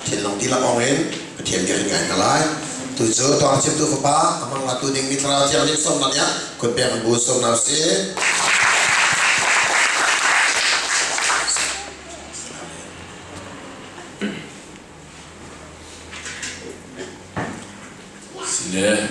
Thinlung dihlak awng in Pathian bia kan ngai hna lai. Tu cu tawng chimtu fapa amang la tu ding mi thlarau thiang nih sawmna nih kun pek an bu sawmna si. Sile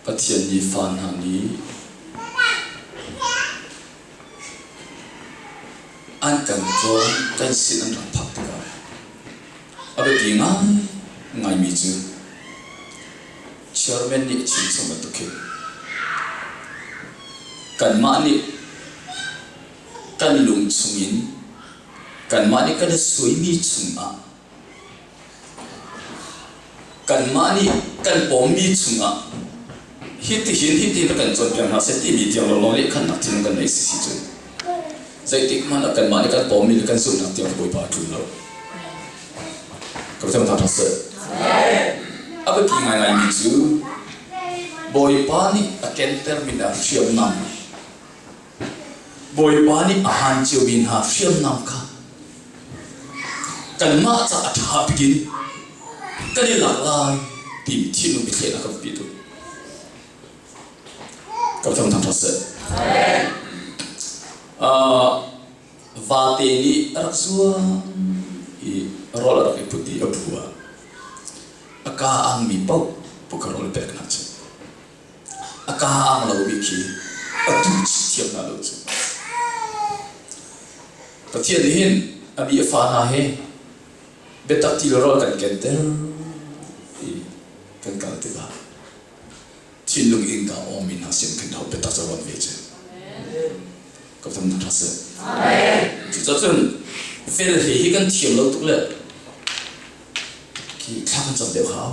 Pathian nih fa hna nih an kan cawn kan sin an rak phak tikah a biapi ngai ngaimi cu chairman nih chim chung bantuk hin kanmah nih kan lung chungin kanmah nih kan i suaimi chungah Kanmah nih kan pawmmi chungah hitihin hitin a kan cawnpiak hna seh timi tiang lawnglawng lehkhannak cun kan nei sisi cu. Zeitik hmanh ah kanmah nih kan pawmmi le kan zumhnak tiang Bawipa a ṭul lo. Ka biathang thang seh. A biapi ngaingaimi cu Bawipa nih a kentermi le a hriamnam Bawipa nih a han ciomi hna hriamnam kha kanmah caah a ṭha bik in kan i lak lai tiin thinlung biathleinak kan pi tuk. Kan fam thang seh. Uh, vate nih a rak zuang i rawl a rak i put i a phu ah a ka angmi paoh puka rawl peknak cu a ka a ang lomi khi a tu chih thiam hna lo cu. Pathian nih hin a mi a fa hna hi biatak ti le rawl kan kenter ti kan kal tikah thinlung innka awmi hna sin kan hau biatak cu rawn ve cu. Ka tam tuk ṭha seh. Cucun fel he hi kan thiam lo tuk le khi thla kan cam deuh hau.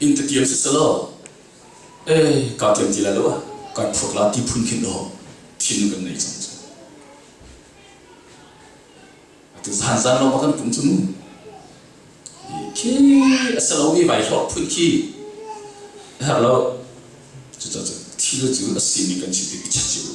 Inn ka tiam siselaw, ee kaa tiam ti lai lo ah kan phuak la ti phun khin aw thin kan nei cang cu. Atu zan zan lawng kan tum cu mu. Khi a sa lo mi vai hlawt phun khi a herh lo. Cucacu thil cu a sining kan si tik i chat cio u.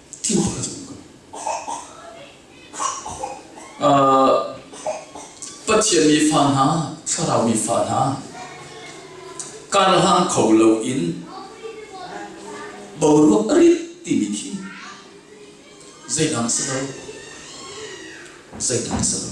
Pathian mi fa hna, thlarau mi fa hna, karhlang kho loin boruak a rit timi khi zeidang si lo, zeidang si lo.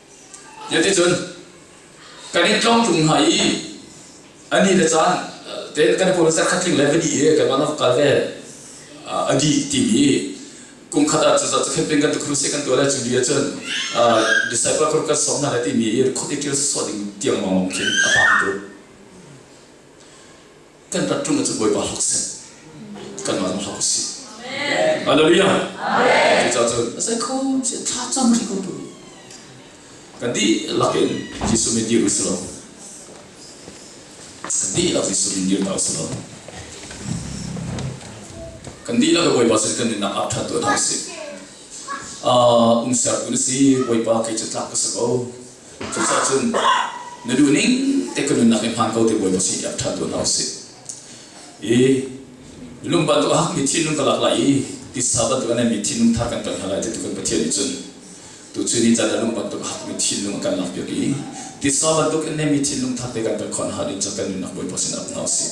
Tiah kan in tlawng tlung hna i ani le caan te kan pur zat khatling le vadi he kan van kal ve adi timi kum khat ah cuzat cukhet pin kan tukhrum se kan tuale cu dia cun disciple kur kan som na le timi i khut i ṭil sawh ding tiang mong khin a pang tu kan rat ṭung cu Bawipa hak si kanmah zong hak si Hallelujah cucaah cun a sai kho si thla cam ri ko tu kan di lak in Jesuh min dir usalaw kan di lak Jesuh min dir ta usalaw kan di lak Bawipa sin kan nunnak ah ṭhat tuah ta si um sertu na si Bawipa kei cu tlak ka si ko Cuka cun na duh ning te ka nunnak i hmaan ko te buai maw si tiah ṭhan tu hna usih. I lung bantuk a hakmi thinlung ka lak lai i tisa bantuk a naimi thinlung thar kan ton hna lai titu kan Pathian nih cun tuchun ni caan ah lung bantuk a hakmi thinlung a kan lak piak i tisa bantuk in naimi thinlung thar te kan pek khawh hna ding cu kan nunnak bawipa sin up hna usih.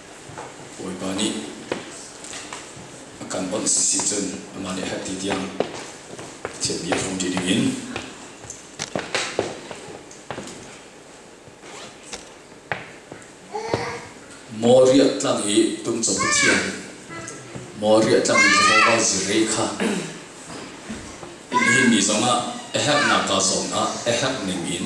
Bawipa nih a kan bawmh sisi cun amah nih hati tiang Pathian mi phung ṭi dingin maw riah tlang i tumcung Pathian maw riah tlang i Jehovah zirei kha hi mi zongah a herhnak kaa zawm ah a herh ning in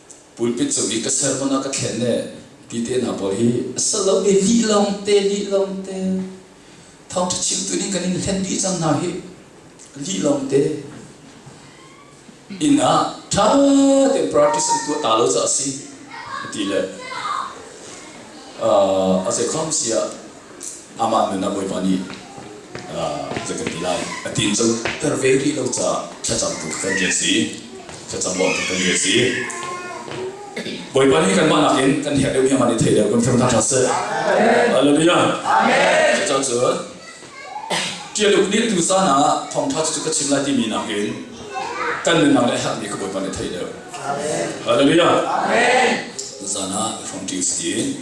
pulpit cu hi ka ser hmanh ah ka thlen ne ti te hna pawl hi a ser lo ve lih long te lih long te thawngtha chim tu nih kan in hlen dih cang hna hi lih long te inn ah tha tein practice an tuah ta lo ca a si ti le a zei khom si ah amah nun ah Bawipa nih zei kan ti lai a ti in coter ve rih lo caah thlacamtu kan ri a si thlacam bawmtu kan ri a si Bawipa nih kanmah nakin kan herh deuh hiang an i thei deuh kan fem hna hlah seh Hallelujah Cucacun ṭialuk nih tu caan ah thawngṭha cu ka chim lai timi nakin kan nunnak le herhmi ka Bawipa nih thei deuh Hallelujah Zan ah ka hrawng ṭing si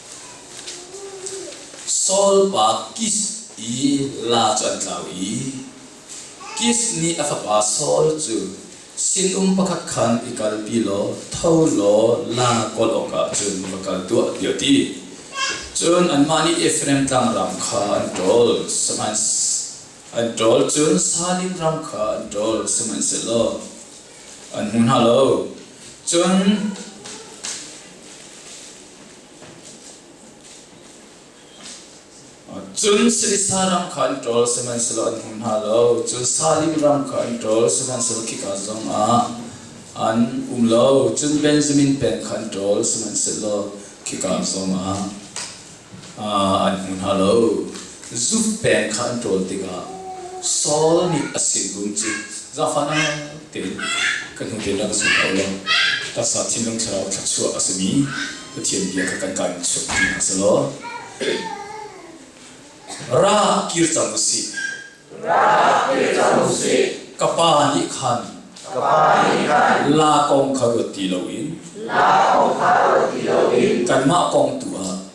Solpa Kis i la cu an tlau i Kis nih a fapa Saul cu sinum pakhat khan i kalpi law tho law la kawl awkah cun va kal tuah tiah a ti. Cun anmah nih Efraim tlangram kha an ṭawl, an ṭawl cun Salim ram kha an ṭawl, sihmanhsehlaw an hmu hna lo. Cun Cun Silisa ram kha an ṭol, sihmanhsehlaw an hmu hna lo. Cun Salim ram kha an ṭol, sihmanhsehlaw khika zongah an um lo. Cun Benjamin peng kha an ṭol, sihmanhsehlaw khika zongah an hmu hna lo. Zuk peng kha an ṭawl tikah Saul nih a sinum cu zafanau tein ka hnu tein rak ka sung hna u law ka sa thinlung thlarau thluachuah a simi Pathian bia kha kan kaan chimh ti hna seh law ra kir cang u sih. Ra kir cang u sih. Ka pa nih khan ka pa nih khan la kong kha ruat ti loin la kong kha ruat ti loin kanmah kong tu ah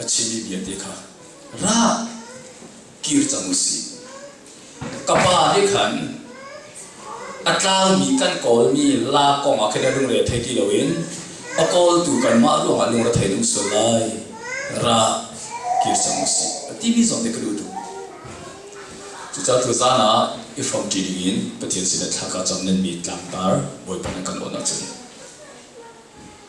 a chimmi vialte kha ra kir cang u si ka pa nih khan a tlangmi kan kawlmi la kong ah khin a lungre thei ti loin a kawltu kanmah ruangah lungre thei ding sual lai ra kir cang u si a timi zong te ka duh tuk cucaah tu zan ah i hrawmṭi ding in Pathian sinah thla ka cam nanmi tlangtar bawipa na kan awn ahcun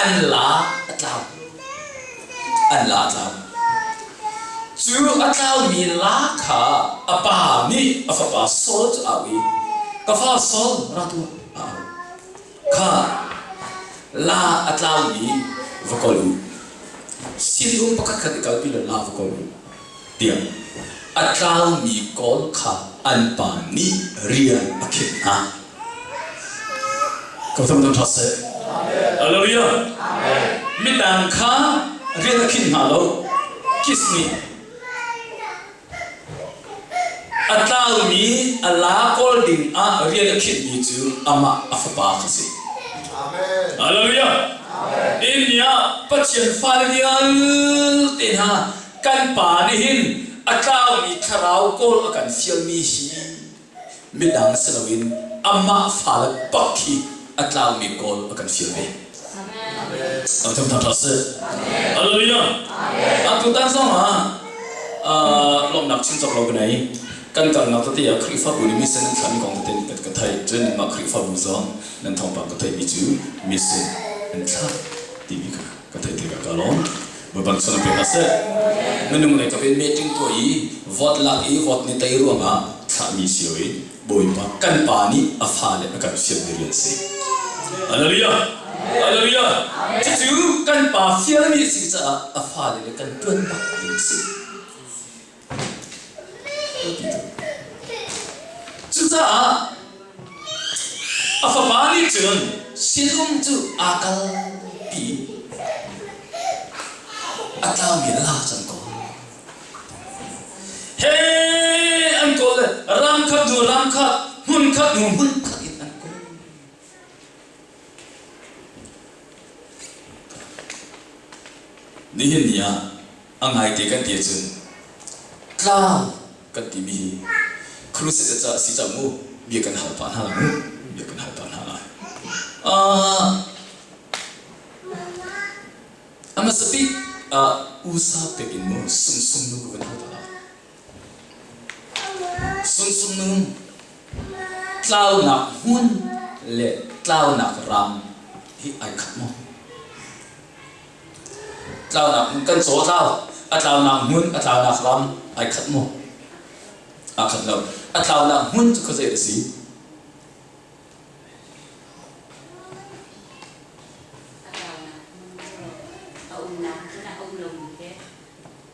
An la a tlau. An la a tlau. Cu a tlaumi la kha a pa nih a fapa Saul cu au i, Ka fa Saul, ra tuah, a au. Kha la a tlaumi va kol u. Sinum pakhat khat i kalpi law la va kol u. a tlaumi kawl kha an pa nih rian a khinh hna. Ko tam dang ṭha seh. Hallelujah. Midang kha rian a khinh hna lo. Kiss me. A tlaumi a la kawl ding ah rian a khinh mi cu amah a fapa kha si. Hallelujah. India Pathian fale vialte hna kan pa nih hin a tlangmi thlarau kawl a kan fialmi hi midang si loin amah fale pak khi a tlangmi kawl a kan fial ve. Kan thum thang sih. Hallelujah. Kan tutan zongah lomnak chin chok lo benai. Kan kalnak tati ah Khrihfabu ni mission nan khlami kong tete kan ka thai. Cun mah Khrihfabu zong nan thawngpang ka thai mi cu mission an thla timi kha. ka theih tikah ka lawm. Baibal sal pek a si. Na nunglei ka ven meeting tuah i vote lak i vote ni tei ruangah thlahmi si loin Bawipa kan pa nih a fale a kan fial diri an si. Hallelujah! Hallelujah! Cucu kan pa fialmi a si caah a fale le kan tuan bak ding a si. Cucaah a fapa nih cun sinum cu aa kal tiin a tlaumi a la cang ko. He an kawl le ram khat hnu ram khat, hmun khat hnu hmun khat in an kawl. Nihin ni ah a ngaite kan ti ahcun tlang kan timi hi crusade ca a si cang mu bia kan hal pah hna lai mu bia kan hal pah hna lai ah a hmasa bik ah usa pek in mu sumsum nu kan hal pah lai Sungsung tlaunak hmun le tlaunak ram hi ai khat maw? Tlaunak hmun kan caw tlau, a tlaunak hmun, a tlaunak ram ai khat maw? Aa khat lo. A tlaunak hmun cu khuazei a si? A tlaunak hmun cu a umnak cun a um lomi he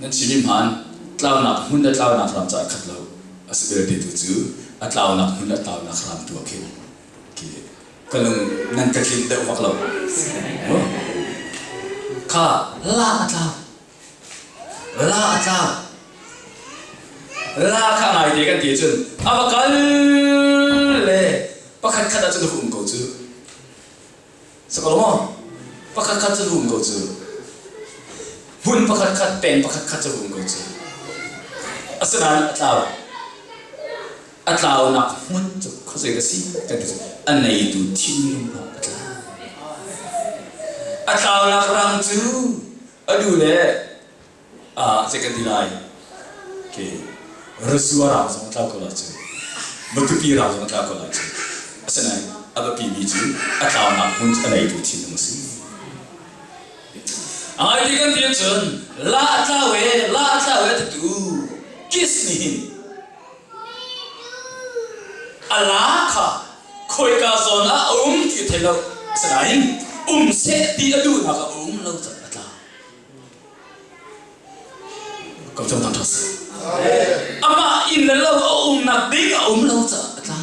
Na thinhim han, tlaunak hmun le tlaunak ram caah khat lo a si belte tu cu a tlaunak hmun le tlaunak ram tu ah khin ke ka lung nan ka tlin deuh bak lo. Oh. Kha la a tlau. La a tlau. La kha ngai te kan ti cun a va kal le pakhat khat ah cun hu um ko cu. Sakaw pakhat khat cu hum ko cu hmun pakhat khat peng pakhat khat cu hum ko cu asinain a tlau a tlaunak hmun cu khuazei ka si kan ti cu a neitu thinlungnak a tlau a tlaunak rang cu adu le Ah, cek kan ti lai. Okay. Rasua rang zong tlau ko lai cu. Matupi rang zong tlau ko lai cu. Asinain a biapi mi cu a tlaunak hmun a neitu thinlung a si. A ngai ti kan ti cun la a tlau e la a tlau e tatu kiss nih hin a la kha khoika zawn ah a um ti thei lo asinain um seh ti a duhnak a um lo cang a tlau Ka cawng aṭhas. Amah inn le lo a umnak ding a um lo caah a tla.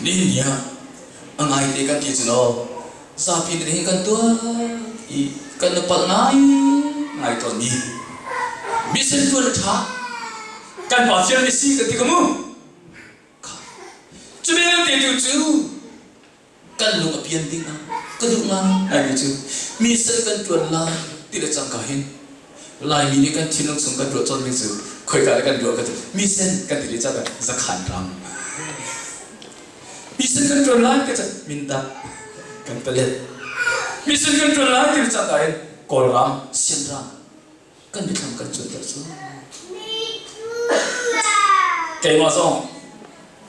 Ni niah a ngaite kan ti cu no. Zapi kan hi kan tuah i kan nu palh ngai ngai tawn ni. Mi sin tuan a ṭha. Kan pa fial mi si ka ti ka mu. Cu belte tu cu kan lung a pian ding ah ka duh ngai aimi cu mi sal kan ṭuan lai ti le cangka hin laimi nih kan thinlung chung kan ruah cawnmi cu khoika le kan ruah ka ti mi sen kan ti le ca zakhan ram mi sen kan ṭuan lai ka ca minda kan palet mi sen kan ṭuan lai ti le cangka hin kawlram sian ram kan biathlam kan cuanter cu. Keimah zong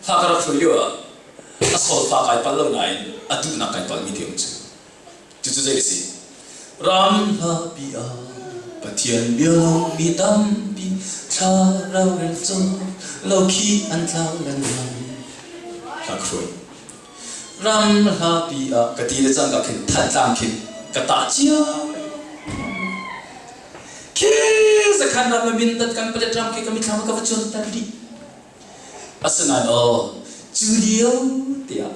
hla ka rak hruai lio ah a solpa kai pal lo nain a duhnak kai palmi te um cu. Cucu zei a si? Ram hlapi ah Pathian bialong mi tampi thlarau rel cu lo khi an tlau lan lai. Hla ka hruai. Ram hlapi ah ka ti le cang ka khin Thantlang khin ka tah cio. Khi zakhan ram le mindat kan padet ram khi ka mithlam ka va cuan tan dih. Asinain aw cu lio tiah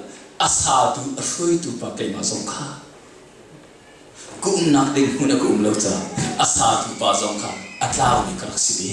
a satu a hruaitu pa keimah zong kha ka umnak ding hmun a ka um lo caah a satu pa zong kha a tlaumi ka rak si ve.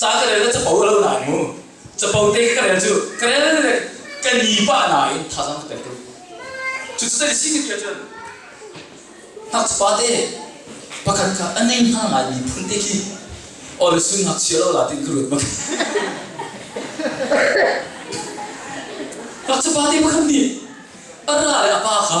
ca ka rel cu pau lo na mu capo te ka rel cu ka rel le ka ni pa na in thazang ka tel ko cu sai si ni cun nak pa te pakhat ka anei na ngai mi phun te khi or su nak chia lo la tin ka ruat mak nak pa te pakhat ni ara le apa kha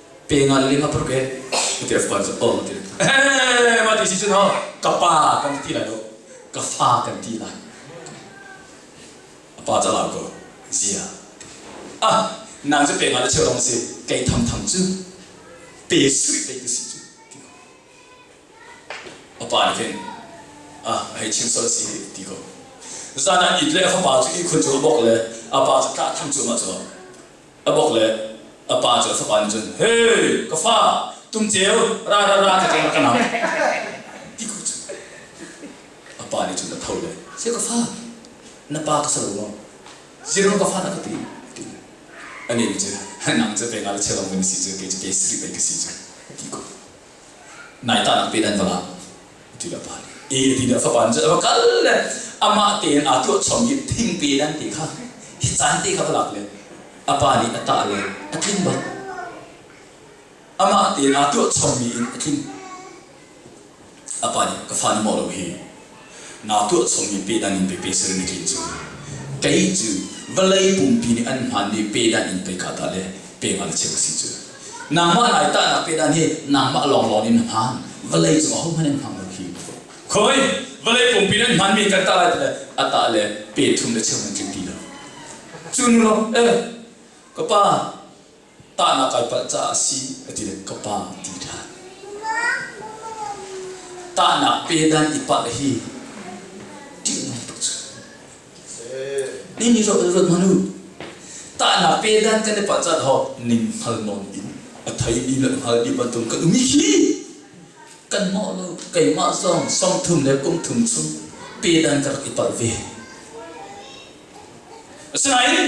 pe ngal ling a phur ke ti fuan cu oh ti eh ma ti si cun ho ka pa kan ti lai lo ka fa kan ti lai a pa calau ko zia ah nang cu pe ngal cheu dong si kei tham tham cu pe sui pe tu si cu a pa nih khin ah hei chim sol si ti ko zan ah it le fapa cu i khun cu a bok le a pa cu tla tham cu ma cu a bawk le a pa cu a fapa nih cun he ka fa tumceu ra ra ra ka ka nam ti ku cu a pa nih cun a tho le sai ka fa na pa ka sa lo maw zero ka fa na ka ti ti a nih cu nang cu pe nga le chelam min si cu kei cu kei sri pe ka si cu ti ku nai ta pe dan vala ti la pa e ti la fa pan va kal le ama tein a tuah chom i thing pe dan te kha hi chan te kha lak le apa nih a ta le a tling ba ama tein a tuah chom mi in a tling apa nih ka fan mo lo hi naa tuah chomi pehdang in pei pe ser na tlin cu. Kei cu vawlei pumpi nih an hmaanmi pehdang in pei ka tah le pengah na cheu ka si cu. Nangmah lai tahnak pehdang hi nangmah lawnglawng in na hmaan, vawlei cung ahohmanh an hmang lo hi. Khoi, vawlei pumpi nan hmaanmi kan tah lai ti le a tah le pe thum le cheu nan tlin ti lo. Cu nu law, eh, ka pa, tahnak kai palh caah a si ka ti le ka pa a ti ṭhan. Tahnak pe dan i palh hi ṭihnak tuk cu. Ning i ruat ruat manu. Tahnak pe dan kan i palh caah hawt ning hngal nawn in a thei mi le hngal mi bantuk kan um i hi kanmah lo keimah zong sawmthum le kumthum chung pe dan ka rak i palh ve. Asinain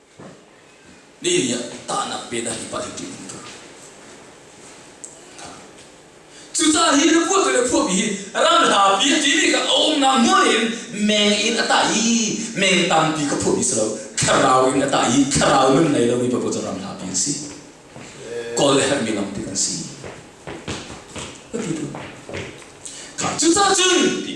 Nihin ni ah tahnak pe dah hi pa hi ṭih um tuk. Cucaah hi ruah ka le phuahmi hi ram hla pi timi ka umnak hmun in meng in a tah i meng tampi ka phuahmi si lo thlarau in a tah i thlarau nun ngei lomi pa cu ram hla pi an si. Kawl le herhmi lam te an si. Ka ti tu. Cucaah cun ti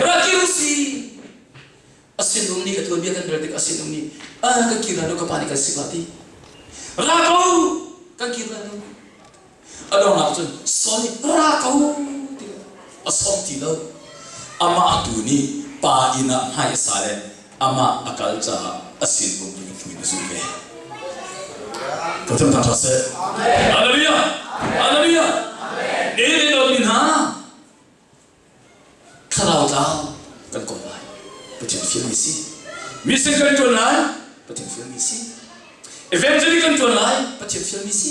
Ra kir u si. A sinum nih ka tuanbia kan rel tikah a sinum nih a kan kir lai lo ka pa nih kan si ba ti. Ra ko kan kir lai lo. A dongah cun Saul nih ra ko ti a som ti lo. Amah tu nih pa inn ah hmai a sa le amah a kal caah a sinum in hmuin a zulh ve. Pathian thangṭha seh. Hallelujah! Hallelujah! E lomi hna thlarau tlau kan kom lai. Pathian fialmi si. Mission kan ṭuan lai. Pathian fialmi si. Evangelic kan ṭuan lai. Pathian fialmi si.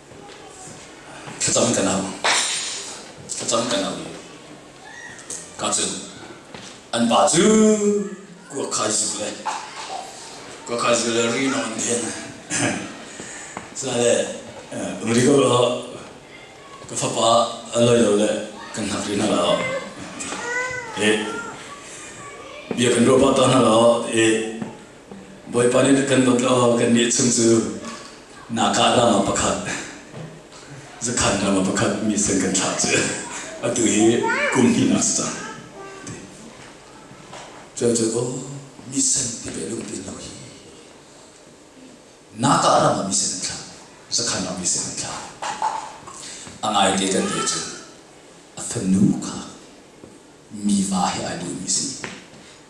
Thlacam kan au. Thlacam kan au i ka cun an pa cu kuakhaizul le kuakhaizul le ri nawn hin sale umri ko law ka fapa a loi lo le kan hnak ri hna law i bia kan ruah pah ta hna law i Bawipa nih kan luat law kannih chung cu Naka ram ah pakhat Zakhan ram ah pakhat mi sen kan thlak cu atu hi kum hnih si cang. Cual cu oh mi sen ti ve lung tin lo hi Naka ram ah mi sen an thlak Zakhan ram mi sen an thlak a ngai te kan te cu a fanu kha mi va he ai duhmi si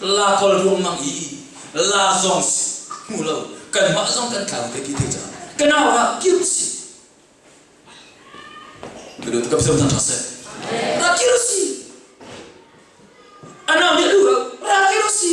La kal ruangmang i la zong hmu lo kanmah zong kan tlau te ti te caah ka nau ah kir si ka dut ka pseu than thang se ra kir si anau nih lu ra kir si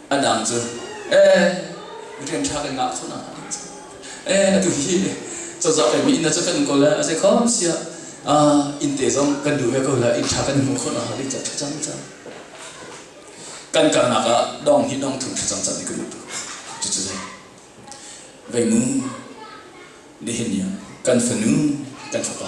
A dang cu, eh, rian ṭha kan ngah khun ah a ding cu, eh, atu hi cozah le mi inn cu kan kawl a zei khom sia, inn te zong kan duh he ko la, inn ṭha kan hmu khun a halik cat cang cang. Kan kalnak ah dong hi dong thum cang cang ni kan tu, cucu zai. Veinu, nihin ni kan fanu, kan fapa.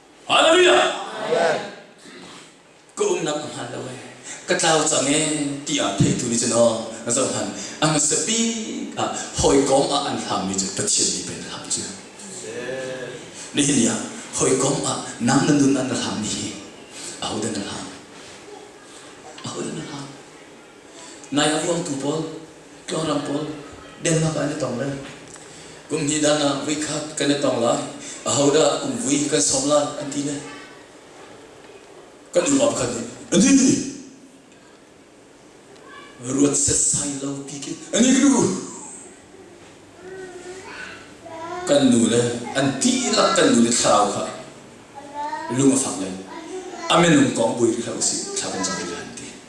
Hallelujah! Ka umnak a hmaan lo ee. Ka tlau cang ee ti ah theitu nih cun aw zoh han a hmasa bik ah hawikom ah an hlangmi cu Pathian nih pe an hlam cu. Nihin ni ah hawikom ah nam le nun an rak hlammi hi ahodah na hlam? Ahodah na hlam? Nai a vuaktu pawl, tlawrang pawl Denmark ah an i tong lai. Kum hnih dan ah vui khat kan i tong lai. Ahodah kum vui kan sawm lai an ti le. Kan upa pakhat nih, Ani! Ruat setsai lo pikin. Ani ka nu! Kan nu le, an dihlak kan nu le thlarau kha lung a fak lai. A minung kong buai rih hlah usih, thla kan cam rih lai an ti.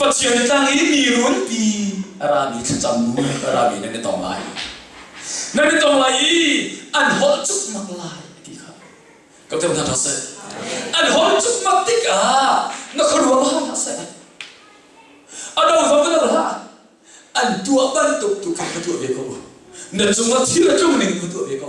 Pathian tlang i mi runpi a rami thlacam bu a rami nan na tong lai. Nan na tong lai i an holh cukmak lai ti kha. Ka teo hna seh. An holh cukmak tikah na khuaruah hlah seh. A do va va hlah. An tuah bantuk tu khan ka tuah ve ko. Na cungah thil a tlung ning ka tuah ve ko.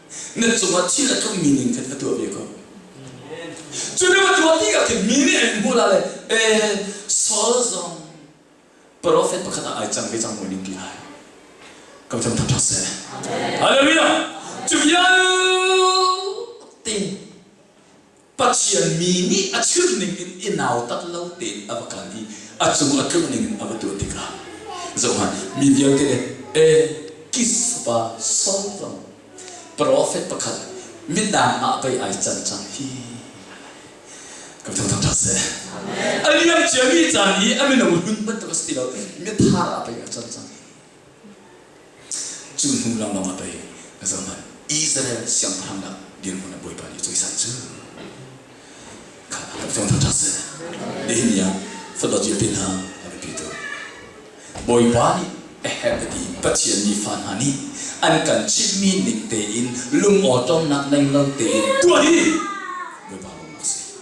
na cungah thil a tlung mi ning khan a tuah ve ko cu ni a tuah ti ah khin mi nih an hmuh la le pe Saul zong profet pakhat ah ai cang ve cang maw ning ti lai ka tham tham thak se hallelujah cu vial te Pathian mi nih a chirhning in i nautat lo tein a va kal i a cung a tlunh ningin a va tuah tikah zohhmanh, mi vialte le Kis fapa Saul profet pakhat midang ah bei ai can cang hi ka biathang thang ṭha seh. A liam ciami caan i a mino hlun bantuk a si ti lo, mi thar ah bei a can cang. Cu hnu lawngah pei ka zoh hmanh, Israel siangpahrang dah dirhmun a bawipa nih a cawisai cu. Kha a rak tlawng thotho seh. Nihin ni ah Fadawcil te hna a biapitu. Bawipa nih a herh ka ti i Pathian nih fa hna nih an kan chimhmi ning tein lungawṭawmnak ngei lo tein ṭuan hi Bawipa bawmhnak a si.